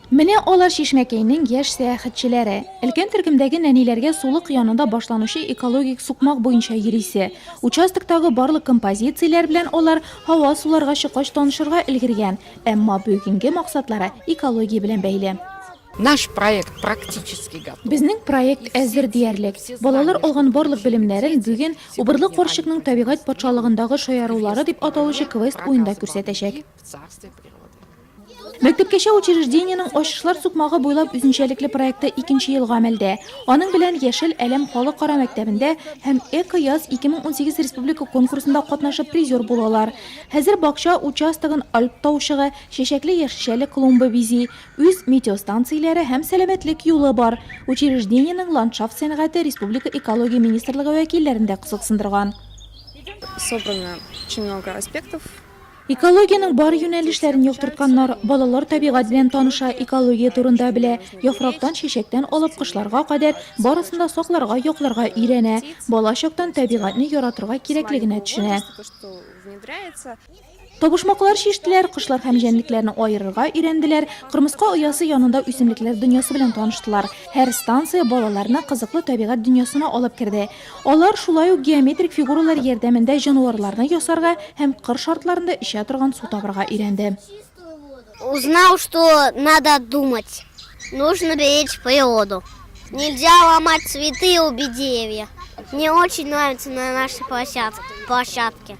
Менә алар Чишмәкәйнең яшь сәяхәтчеләре. Өлкән төркемдәге нәниләргә сулык янында башланучы экологик сукмак буенча йөрисе. Участоктагы барлык композицияләр белән алар һава суларга чыккач танышырга өлгергән, әмма бүгенге максатлары экология белән бәйле. Наш проект практически готов. Безнең проект әзер диярлек. Балалар алган барлык белемнәрен бүген Убырлы карчыкның табигать патшалыгындагы шаярулары дип аталучы квест уенда күрсәтәчәк. Мәктәпкәчә учреждениенең Ачышлар сукмагы буйлап үзенчәлекле проекты икенче ел гамәлдә. Аның белән Яшел Әләм халыкара мәктәбендә һәм Эко-яз 2018 республика конкурсында катнашып призер булалар. Хәзер бакча участогын Альп таучыгы, чәчәкле яшелчәле клумба бизи. Үз метеостанцияләре һәм сәламәтлек юлы бар. Учреждениенең ландшафт сәнгате республика экология министрлыгы вәкилләрен дә кызыксындырган. Собрано очень много аспектов. Экологиянең бар юнәлешләрен яктыртканнар, балалар табигать белән таныша, экология турында белә, яфрактан, чәчәктән алып кошларга кадәр барысын да сакларга, якларга өйрәнә, бала чактан табигатьне яратырга кирәклегенә төшенә. Табышмаклар чиштеләр, кошлар һәм җәнлекләрне аерырга өйрәнделәр, кырмыска оясы янында үсемлекләр дөньясы белән таныштылар. Һәр станция балаларны кызыклы табигать дөньясына алып керде. Алар шулай ук геометрик фигуралар ярдәмендә җанварларны ясарга һәм кыр шартларында эчә торган су табарга өйрәнде. Узнал, что надо думать, нужно беречь природу. Нельзя ломать цветы и рубить деревья. Мне очень нравится на нашей площадке.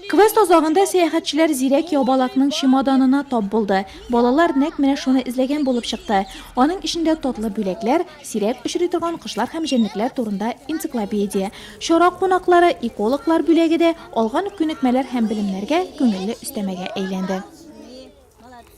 Квест азагында сәяхәтчеләр зирәк ябалакның чемоданына тап булды. Балалар нәкъ менә шуны эзләгән булып чыкты. Аның эчендә татлы бүләкләр, Сирәк очрый торган кошлар һәм җәнлекләр турында энциклопедия. Чара кунаклары, экологлар бүләге дә алган күнекмәләр һәм белемнәргә күңелле өстәмәгә әйләнде.